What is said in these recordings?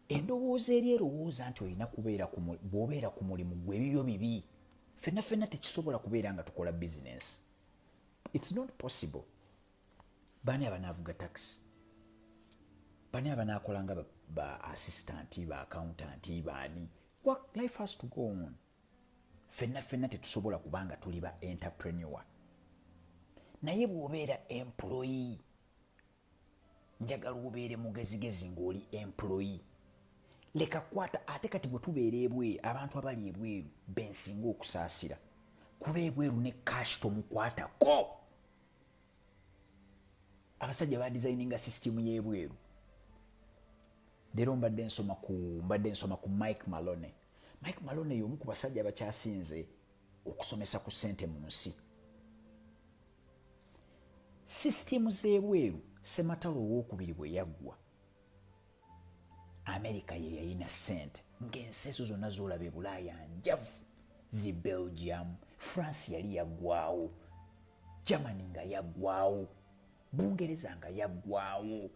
endowooza eri erowooza nti olina kubeera bw'obeera ku mulimu gwe ebibyo bibi fenna fenna tekisobola kubeera nga tukola bizinensi its not possible baani abanaavuga takisi baani abanaakola nga ba assistanti ba accountanti baani life has to go on fenna fenna tetusobola kuba nga tuli ba entrepreneur naye bw'obeera employee njagala obeere mugezigezi ng'oli employi leka kwata ate kati bwe tubeera ebweru abantu abali ebweru bensinga okusaasira kuba ebweru ne kashi tomukwatako abasajja badizayininga sisitimu y'ebweru leero mbadde nsoma ku mbadde nsoma ku mike malone mike malone y'omu ku basajja abakyasinze okusomesa ku sente mu nsi sisitiimu z'ebweru sematalo owokubiri bwe yaggwa amerika ye yalina sente ng'ensi ezo zonna zolaba ebulaaya njavu zi belgium france yali yaggwawo germany nga yaggwawo bungereza nga yaggwawo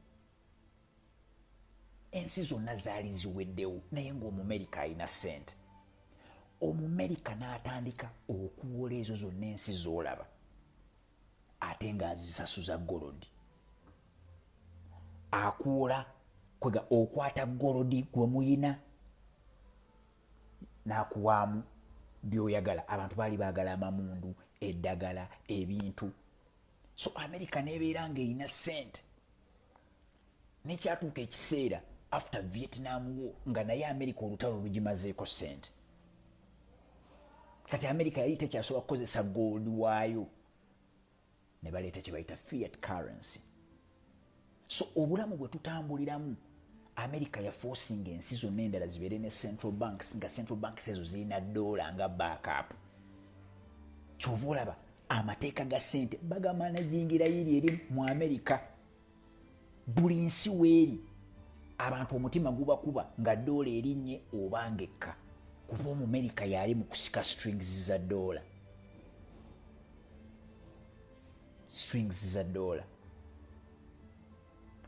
ensi zonna zaali ziweddewo naye ngaomumerika alina sente omumerika n'atandika okuwola ezo zonna ensi z'olaba ate ng'azisasuza golodi akuwola kwega okwata golodi gwe muyina n'akuwaamu byoyagala abantu baali baagala amamundu eddagala ebintu so amerika nebeera ngaerina sente nekyatuuka ekiseera after vietnam wo nga naye america olutalo lugimazeeko sente kati america yali tekyasobola kukozesa gold waayo ne baleeta kyebayita fiat currency so obulamu bwe tutambuliramu america yafosinga ensi zonna endala zibeere ne central banks nga central banks ezo zirina doola nga backup kyova olaba amateeka ga sente bagamanajingira yiri eri mu amerika buli nsi weeri abantu omutima gubakuba nga doola erinnye obanga ekka kuba omumerika yaali mu kusika strings za doola strings za doola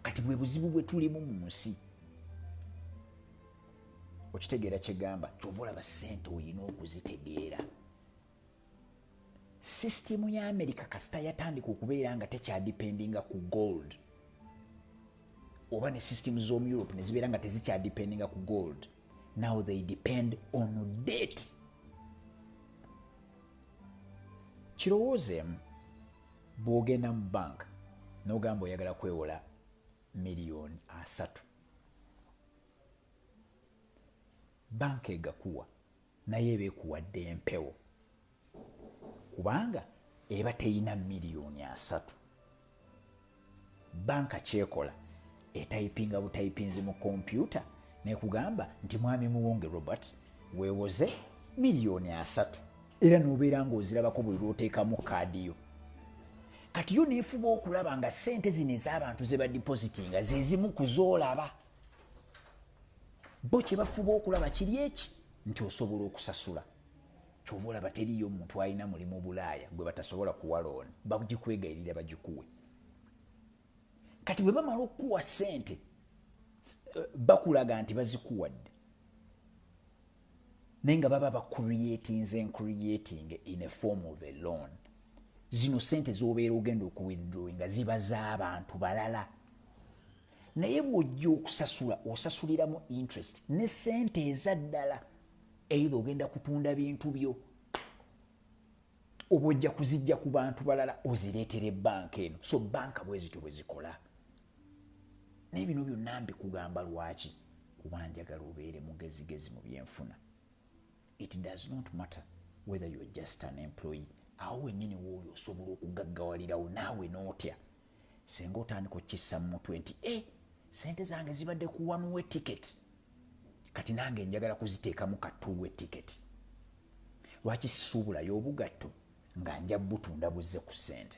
kati bwe buzibu bwe tulimu mu nsi okitegeera kyegamba kyova olaba sente olina okuzitegeera sisitimu ya amerika kasita yatandika okubeera nga tekyadipendinga ku gold oba ne sisitimu z'omu europe ne zibeera nga tezikyadipendinga ku gold now they depend on date kirowoozeemu bwogenda mu bank nogamba oyagala kwewola miliyoni asatu banka egakuwa naye eba ekuwadde empewo kubanga eba teyina miliyoni asatu banka kyekola etayipinga butayipinzi mu kompyuta nekugamba nti mwami muwonge robert wewoze miliyoni asatu era nobeera ngaozirabako buli lwoteekamu kaadi yo kati yo nefuba okulaba nga sente zino ez'abantu zebadipositinga zezimu kuzoolaba bo kyebafuba okulaba kiri eki nti osobola okusasula kyova olaba teriyo omuntu alina mulimu bulaaya gwe batasobola kuwa looni bagikwegayirira bagikuwe kati bwe bamala okukuwa sente eh, bakulaga nti bazikuwadde naye nga baba bacreatinze encreating in a form of a loan zino sente zobeera ogenda okuwithdrawinga ziba z'abantu balala naye bw'ojja okusasula osasuliramu interest ne sente ezaddala eitha ogenda kutunda bintu byo oba ojja kuzijja ku bantu balala ozireetera ebbanka eno so banka bwezityo bwezikola naye bino byonna mbikugamba lwaki kuba njagala obeere mugezigezi mu byenfuna it does not matter whether you're just an employee awo wenyini wooli osobola okugaggawalirawo naawe nootya singa otandika okukissa mu mutwe nti e sente zange zibadde kuwanuwa etiketi kati nange njagala kuziteekamu katuuwa etiketi lwaki sisuubulayo obugatto nga nja butunda buzze ku sente